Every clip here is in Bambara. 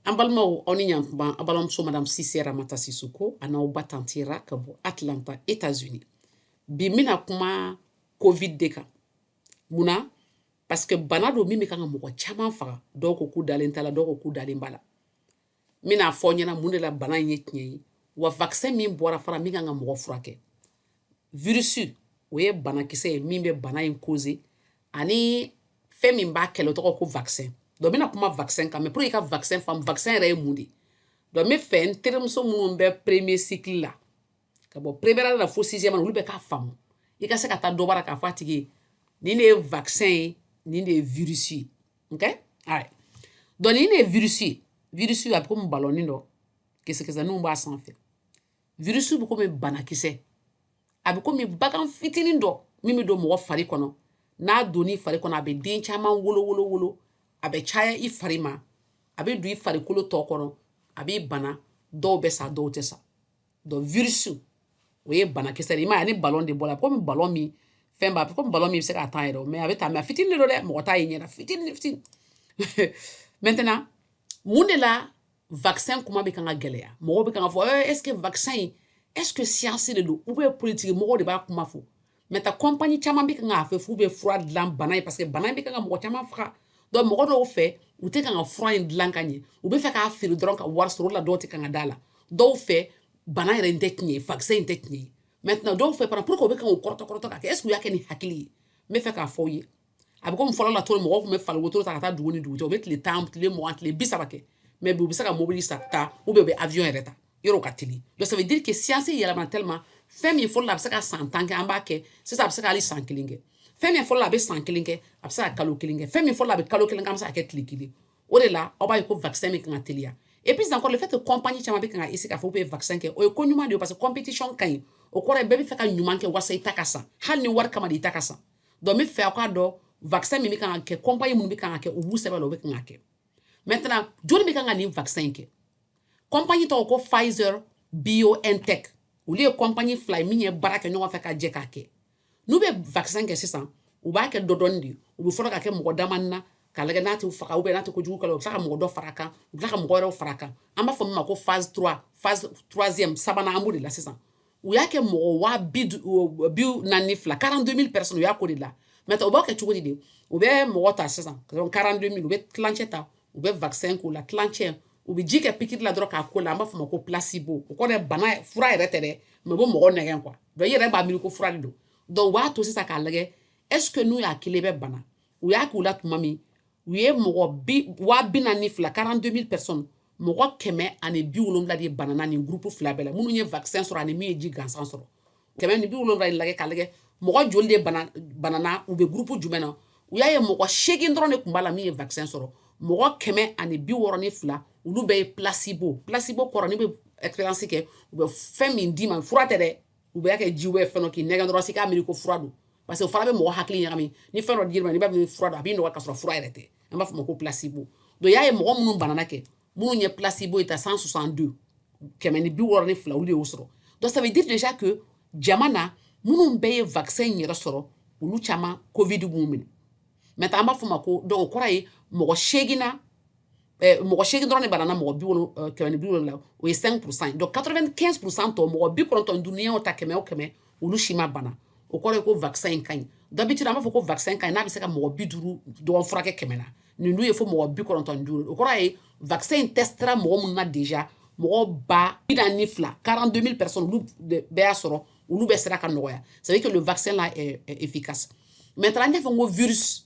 an balimaw aw ni yan tuma aw balimamuso madame cissé ramata sissoko a n'aw ba tanti ra ka bɔ atlanta etats unis bi n bɛna kuma covid de kan mun na parce que bana don min bɛ kan ka mɔgɔ caman faga dɔw ko k'u dalen t'a la dɔw ko k'u dalen b'a la n bɛna fɔ ɲɛna mun de la bana in ye tiɲɛ ye wa vaccin min bɔra fura min kan ka mɔgɔ furakɛ virus o ye banakisɛ ye min bɛ bana in cause ani fɛn min b'a kɛlɛ tɔgɔ ko vaccin donc n bɛna kuma vaccin kan mais pour i ka vaccin faamu vaccin yɛrɛ ye mun de donc n bɛ fɛ n terimuso minnu bɛ premier cycle la ka bɔ première la fo sixième olu bɛɛ k'a faamu i ka se ka taa dɔ bara k'a fɔ a tigi ye nin de ye vaccin ye nin de ye virus ye ok all right donc nin de ye virus ye virus a bɛ komi balɔnin dɔ kisɛkisɛninw b'a sanfɛ virus bɛ komi banakisɛ a bɛ komi bagan fitinin dɔ min bɛ don mɔgɔ fari kɔnɔ n'a don i fari kɔnɔ a bɛ den caman wolo wolo wolo a bɛ caya i fari ma a bɛ don i farikolo tɔ kɔnɔ a b'i bana dɔw bɛ sa dɔw tɛ sa donc virus o ye banakisɛ ye i m'a ye a ni balon de bɔ la komi balon min fɛn b'a komi balon min bɛ se ka taa yɛrɛ ma a bɛ taa mais a fitinin de don dɛ mɔgɔ t'a ye ɲɛ na fitinin fitinin maintenant mun de la vaccin kuma bɛ kan ka gɛlɛya mɔgɔw bɛ kan ka fɔ eh, est ce que vaccin in est ce que science de don ou bien politiki mɔgɔw de b'a kuma fɔ maintenant compagnie caman bɛ kan k'a fɔ k'u bɛ fura dilan bana ye parce que bana in bɛ kan ka mɔgɔ caman faga donc mɔgɔ dɔw fɛ u tɛ kan ka fura in dilan ka ɲɛ u bɛ fɛ k'a feere dɔrɔn ka wari sɔrɔ o la dɔw tɛ kan ka d'a la dɔw fɛ bana yɛrɛ in tɛ tiɲɛ ye vaccin in tɛ tiɲɛ ye maintenant dɔw fɛ fana pour que u bɛ kan k'u kɔrɔtɔ kɔrɔtɔ k'a kɛ est ce que u y'a kɛ ni hakili ye n bɛ fɛ k'a fɔ aw ye a bɛ komi fɔlɔ la cogo min mɔgɔw tun bɛ fali wotoro ta ka taa dugu ni dugu cɛ u bɛ tile tan tile mugan tile bi saba kɛ mais bi u bɛ se ka mobili ta ou bien u bɛ avion yɛrɛ ta yɔrɔ ka teli donc ça veut dire que science yɛlɛma tellement fɛn min fɔlɔ la a bɛ se ka san tan kɛ an b'a kɛ sisan a bɛ se ka hali san kelen kɛ fɛn min fɔlɔ la a bɛ san kelen kɛ a bɛ se ka kalo kelen kɛ fɛn min fɔlɔ la a bɛ kalo kelen kɛ an bɛ se ka kɛ tile kelen o de la aw b'a ye ko vaccin min kan ka teliya et puis encore le fait que compagnie caman bɛ kan ka essayer k'a fɔ k'u bɛ vaccin kɛ o ye ko ɲuman de ye parce que competition ka ɲi o kɔrɔ ye bɛɛ bɛ fɛ ka ɲuman kɛ walasa i ta ka san hali ni wari kama de i ta ka san donc n bɛ fɛ aw k'a dɔn vaccin min bɛ kan ka kɛ compagnie minnu bɛ kan ka kɛ u b'u sɛbɛ la u bɛ kan ka kɛ maintenant joli bɛ kan ka nin vaccin in kɛ compagnie tɔgɔ ko Pfizer BioNTech olu ye compagnie fila ye min ye baara kɛ ɲɔgɔn fɛ ka jɛ k'a kɛ n'u bɛ vaccin kɛ sisan u b'a kɛ dɔɔni dɔɔni de u bɛ fɔlɔ ka kɛ mɔgɔ dama na k'a lajɛ n'a t'u faga ou bien n'a tɛ kojugu kɛ la u bɛ tila ka mɔgɔ dɔ fara kan u bɛ tila ka mɔgɔ wɛrɛw fara kan an b'a fɔ min ma ko phase 3 phase troisième sabanan an b'o de la sisan u y'a kɛ mɔgɔ waa bi naani ni fila quarante-deux mille personnes u y'a k'o de la maintenant u b'a kɛ cogo di de u bɛ mɔgɔ ta sisan quarante-deux mille u bɛ tilancɛ ta u bɛ vaccin k'u la tilancɛ u bɛ ji kɛ pikiri la dɔrɔn k'a k'o la an b'a fɔ ma ko placebo o kɔrɔ bana fura yɛrɛ tɛ dɛ mais u bɛ mɔgɔ nɛgɛn quoi donc i yɛrɛ b'a miiri ko fura de don donc u b'a to sisan k'a lajɛ est-ce que n'u y'a kelen bɛ bana u y'a k'u la tuma min u ye mɔgɔ waa bi naani ni fila quarante-deux mille personnes mɔgɔ kɛmɛ ani bi wolonwula de banana nin gurupu fila bɛɛ la minnu ye vaccin sɔrɔ ani min ye ji gansan sɔrɔ kɛmɛ ni bi wolonwula ye lajɛ k'a lajɛ mɔgɔ joli de banana u bɛ gurupu jumɛn na u y'a ye mɔgɔ seegin dɔrɔn de tun b'a la min ye vaccin sɔrɔ mɔgɔ kɛmɛ ani bi wɔɔrɔ ni fila olu bɛɛ ye placebo placebo kɔrɔ n'i bɛ expérience kɛ u bɛ fɛn min d'i ma fura tɛ dɛ u bɛ kɛ ji ye fɛn k'i nɛgɛn dɔrɔn s'i k'a miiri ko fura don parce que o fana bɛ mɔgɔ hakili ɲagami ni fɛn dɔ dir'i ma i b'a miiri fura don a b'i nɔgɔya ka sɔrɔ fura yɛrɛ tɛ an b'a fɔ ma ko placebo donc i y'a ye mɔgɔ minnu banana kɛ minnu ye placebo in ta 162 kɛmɛ ni bi wɔɔrɔ ni fila olu de y'o sɔrɔ donc ça veut dire déjà que jama na minnu bɛɛ ye vaccin in yɛrɛ sɔrɔ olu caman covid m'u minɛ maintenant an b'a fɔ ma ko donc o kɔrɔ ye mɔgɔ seegin na eh, mɔgɔ seegin dɔrɔn de banana mɔgɔ bi wolo eh, kɛmɛ ni bi wolonwula o ye 5 pourcent donc 95 pourcent tɔ mɔgɔ bi kɔnɔntɔn ni duuru n'i y'o ta kɛmɛ o kɛmɛ olu si ma bana o kɔrɔ ye ko vaccin in ka ɲi d'habitude an b'a fɔ ko vaccin ka ɲi n'a bɛ se ka mɔgɔ bi duuru dɔrɔn furakɛ kɛmɛ na nin dun ye fo mɔgɔ bi kɔnɔntɔn ni duuru o kɔrɔ ye vaccin in testera mɔgɔ minnu na déjà mɔgɔ ba bi naani ni fila 42 000 personnes olu bɛɛ y'a sɔrɔ olu bɛɛ sera ka nɔgɔya c'est à dire que le vaccin là est efficace maintenant n y'a fɔ n ko virus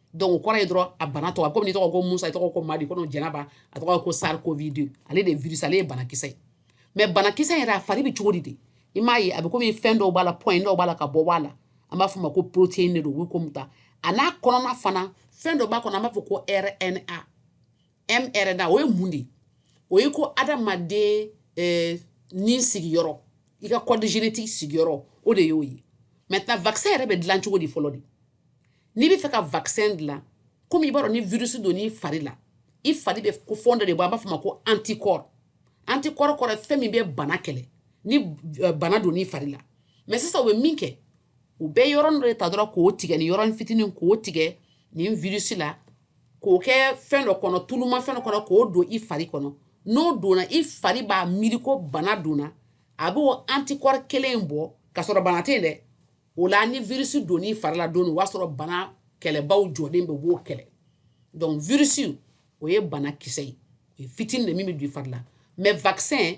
donc o kɔrɔ ye dɔrɔn a bana tɔgɔ komi n'i tɔgɔ ko musa i tɔgɔ ko madi ko jɛnɛba a tɔgɔ ko SARS-CoV-2 ale de ye virus ale ye banakisɛ ye mais banakisɛ yɛrɛ a fari bɛ cogo di de i m'a ye a bɛ komi fɛn dɔw b'a la point dɔw b'a la ka bɔ bɔ a la an b'a fɔ ma ko protéine de don u bɛ komi ta a n'a kɔnɔna fana fɛn dɔ b'a kɔnɔ an b'a fɔ ko RNA mRNA o ye mun de ye o ye ko adamaden eh, ni sigiyɔrɔ i ka code génétique sigiyɔrɔ o de y'o ye maintenant vaccin yɛrɛ bɛ dilan cogo di fɔlɔ de n'i bɛ fɛ ka vaccin dilan komi i b'a dɔn ni virus donn'i fari la i fari bɛ ko fɛn dɔ de bɔ an b'a fɔ ma ko anticorps anticorps kɔrɔ fɛn min bɛ bana kɛlɛ ni euh, bana donn'i fari la mais sisan u bɛ min kɛ u bɛ yɔrɔnin dɔ de ta dɔrɔn k'o tigɛ ni yɔrɔnin fitinin k'o tigɛ nin virus la k'o kɛ fɛn dɔ kɔnɔ tuluma fɛn dɔ kɔnɔ k'o don i fari kɔnɔ n'o donna i fari b'a miiri ko bana donna a b'o anticorps kelen in bɔ ka sɔrɔ bana tɛ yen dɛ o la ni virus donn'i fari la don min o b'a sɔrɔ bana kɛlɛbaaw jɔlen bɛ u b'o kɛlɛ donc virus o ye banakisɛ ye o ye fitinin de min bɛ don i fari la mais vaccin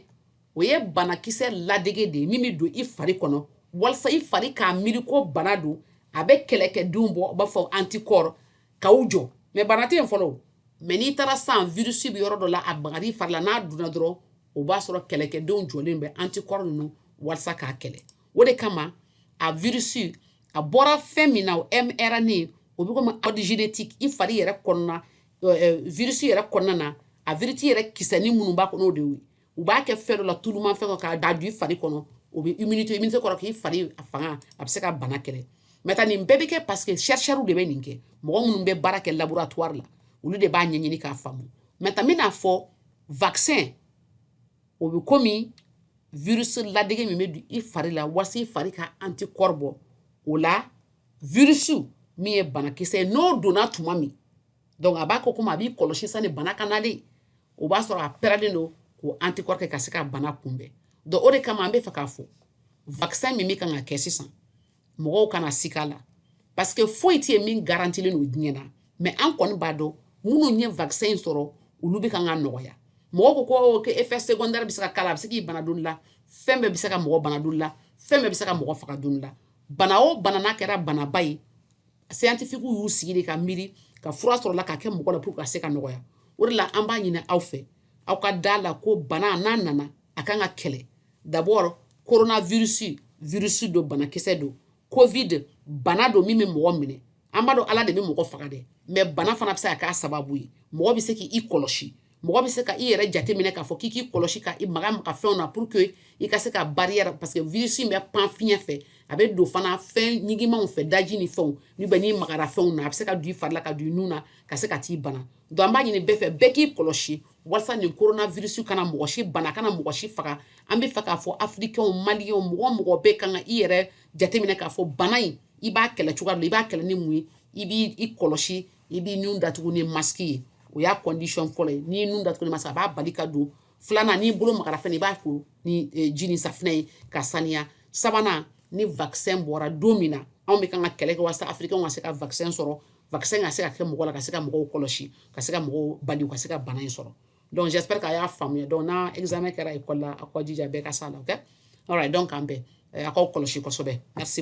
o ye banakisɛ ladege de ye min bɛ don i fari kɔnɔ walasa i fari k'a miiri ko bana don a bɛ kɛlɛkɛdenw bɔ u b'a fɔ anticorps k'aw jɔ mais bana tɛ yen fɔlɔ o mais n'i taara san virus bɛ yɔrɔ dɔ la a magar'i fari la n'a donna dɔrɔn o b'a sɔrɔ kɛlɛkɛdenw jɔlen bɛ anticorps ninnu walasa k'a kɛlɛ o de kama a virus a bɔra fɛn min na o mRNA o bɛ komi code génétique i fari yɛrɛ kɔnɔna virus yɛrɛ kɔnɔna na a virus yɛrɛ kisɛnin minnu b'a kɔnɔ o de ye u b'a kɛ fɛn dɔ la tulumafɛn dɔ k'a ladon i fari kɔnɔ o bɛ immunité immunité kɔrɔ k'i fari a fanga a bɛ se ka bana kɛlɛ maintenant nin bɛɛ bɛ kɛ parce que chercheurs de bɛ nin kɛ mɔgɔ minnu bɛ baara kɛ laboratoire la olu de b'a ɲɛɲini k'a faamu maintenant n bɛna a fɔ vaccin o bɛ komi virus ladege min bɛ don i fari la walasa i fari ka anticorps bɔ o la virus min ye banakisɛ ye n'o donna tuma min donc a b'a kɛ komi a b'i kɔlɔsi sani bana ka na dɛ o b'a sɔrɔ a parelen don k'o anticorps kɛ ka se ka bana kunbɛn donc o de kama an bɛ fɛ k'a fɔ vaccin min bɛ kan ka kɛ sisan mɔgɔw kana siga a la parce que foyi tɛ yen min garantilen don diɲɛ na mais an kɔni b'a dɔn minnu ye vaccin in sɔrɔ olu bɛ kan ka nɔgɔya mɔgɔw ko effet secondaire bɛ se ka k'a la a bɛ se k'i bana don la fɛn bɛɛ bɛ se ka mɔgɔ bana don la fɛn bɛɛ bɛ se ka mɔgɔ faga don la bana o bana kɛra banaba ye scientifiques y'u sigi ka miiri ka fura sɔrɔ la ka kɛ mɔgɔ la ka se ka nɔgɔya o de la an b'a ɲini aw fɛ aw ka da la ko bana n'a nana a ka kan ka kɛlɛ D'abord coronavirus virus don banakisɛ don covid bana don min bɛ mɔgɔ minɛ an b'a dɔn ala de bɛ mɔgɔ faga dɛ mais bana fana bɛ se ka k'a sababu ye mɔgɔ bɛ se k'i kɔlɔsi mɔgɔ bɛ se ka i yɛrɛ jateminɛ k'a fɔ k'i k'i kɔlɔsi ka i maga maga fɛnw na pour que i ka se ka barrière parce que virus in bɛ pan fiɲɛ fɛ a bɛ don fana fɛn ɲigimanw fɛ daji ni fɛnw nin bɛɛ n'i magara fɛnw na a bɛ se ka don i fari la ka don i nun na ka se ka t'i bana donc an b'a ɲini bɛɛ fɛ bɛɛ k'i kɔlɔsi walasa nin coronavirus kana mɔgɔ si bana kana mɔgɔ si faga an bɛ fɛ k'a fɔ africains mali mɔgɔ mɔgɔ bɛɛ kan ka i yɛrɛ jateminɛ k'a fɔ bana in i b'a kɛlɛ cogoya i b'a kɛlɛ ni mun ye i b'i kɔlɔsi i b'i nun datugu ni masque ye o y'a condition fɔlɔ ye n'i nun datugu ni masque a b'a bali ka don filanan n'i bolo magara fɛn na i b'a ko ni e, ji ni safinɛ ye ka saniya sabanan ni vaccin bɔra don min na anw bɛ kan ka kɛlɛ kɛ walasa Afrique ka se ka vaccin sɔrɔ pa ka se ka kɛ mɔgɔ la ka se ka mɔgɔw kɔlɔsi ka se ka mɔgɔw bali ka se ka bana in sɔrɔ dɔnkupri a y'a faamuya dɔn n' kɛra i kɔ la a kɔjija bɛɛ ka sa la dɔn k'an bɛn a'aw kɔlɔsi kosɛbɛ a se